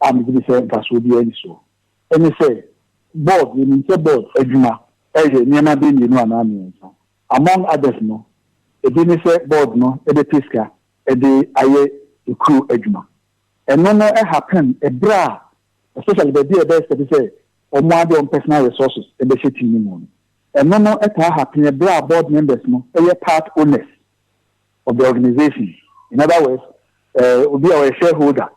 a megye di sɛ mfasoɔ biara nni soɔ ne sɛ, Board, yɛnim sɛ board adwuma yɛ nneɛma bɛyɛ mmienu anaa mmiɛnsa. Among others no, ebi ne sɛ board no bɛpɛ sika de ayɛ kuro adwuma. Ɛno no happen berɛ a, especially baabi a yɛbɛ expect sɛ wɔn ara de wɔn personal resources bɛhyɛ tea no mu no. Ɛno no taa happen berɛ a board members no yɛ part owners ɔbɛ organisation in other words eh, obi a ɔyɛ shareholder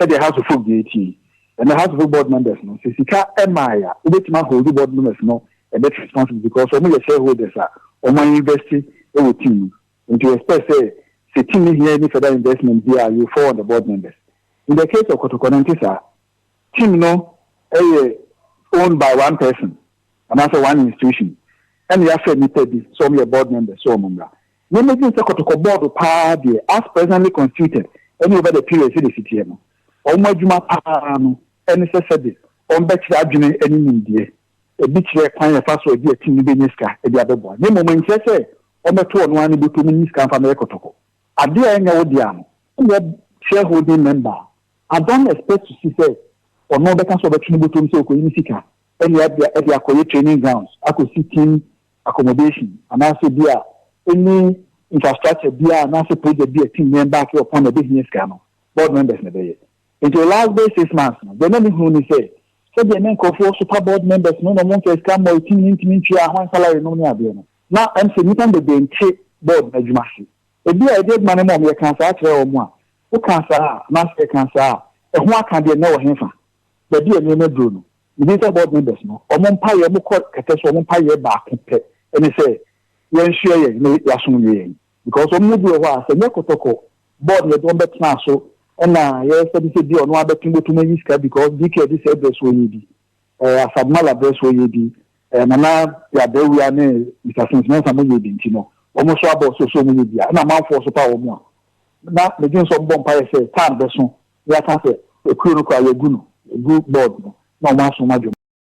sɛdeɛ house of folk deɛ ɛtie yi ɛnɛ house of folk board members no sɛ sika ɛmae a wobɛtumi ahold board members no a bit responsible because wɔn yɛ shareholders a wɔn ayɛ invest wɔ team no nti expect sɛ sɛ team no hia any further investment bi a you fall on the board members in the case of kɔtɔkɔ no nte saa team no ɛyɛ owned by one person anaasɛ one institution ɛna yɛafɛ nnipa bi sɛ wɔn yɛ board members sɛ wɔn mmra Yɛn ani gye sɛ kɔtɔkɔ bɔɔdo paa deɛ, as presently constituted, ɛne over the period sɛdeɛ ɛsi teɛ no. Wɔn adwuma paa ara no ne sɛ sɛdeɛ wɔbɛkyerɛ adwene ne nimdeɛ, ɛbi kyerɛ kwan a yɛfa so gye atim no bɛnya sika de abɛboa, na mmom ɛnkyerɛ sɛ wɔbɛto ɔno ara ne bɔtɔ mu nyi sika mfa mmɛyɛ kɔtɔkɔ. Adeɛ a ɛnyɛ wo dea no, woyɛ shareholding member a, I don't expect to see sɛ ɔno bɛka sɛ ɔbɛto ne bɔtɔ mu sɛ ɔkɔyi ne sika de akɔyɛ training grounds akɔsi team accommodation anaasɛ bi a any infrastructure biara anaasɛ project bi a team no embark upon na ɛbɛhia sika no, board members na ɛbɛyɛ. Nti wɔ last bɛyɛ six months no, deɛ na me hunu ne sɛ, sɛdeɛ na nkorɔfoɔ sopa board members no na wɔn mfa sika mmɔ team no ntumi ntua hɔn salary nom ne adeɛ no, na ɛm sɛ nnipa no bebree nte board no adwuma ase. Ɛbi a yɛde adwuma no ma wɔn, yɛkaa saa kyerɛɛ wɔn a, wokaa saa a anaasɛ yɛkaa saa a, ɛho aka deɛ na ɛwɔ henfa? baabi a nneɛma duro no, mebisa board members no wɔn mpaeɛ, wɔkɔ kɛtɛ so wɔn mpaeɛ baako pɛ ne sɛ yɛnsoɛ yɛn na yɛasom nyɛ yɛn because wɔn mu bi wɔ hɔ a sɛ nyɛ kɔtɔkɔ board yɛde wɔn bɛtenaa so ɛna yɛsɛ de sɛ bi ɔno abɛto bɛtum ayi sika because dk adi sɛ ɛbrɛ so ɔyɛ bi ɛɛ asadmala brɛ so ɔyɛ bi ɛɛ nana yɛabrɛwia ne mr sinsmensa mo yɛ bi nti no wɔn nso abɔ so so wɔn yɛ bi a ɛna amanfoɔ so pa wɔn a na medwen sɛ wɔn bɔ mpaeɛ sɛ tan bɛso Yɛaka sɛ, Okuo no koraa, yɛagu no agu bɔɔd no na wɔaso ma dwom.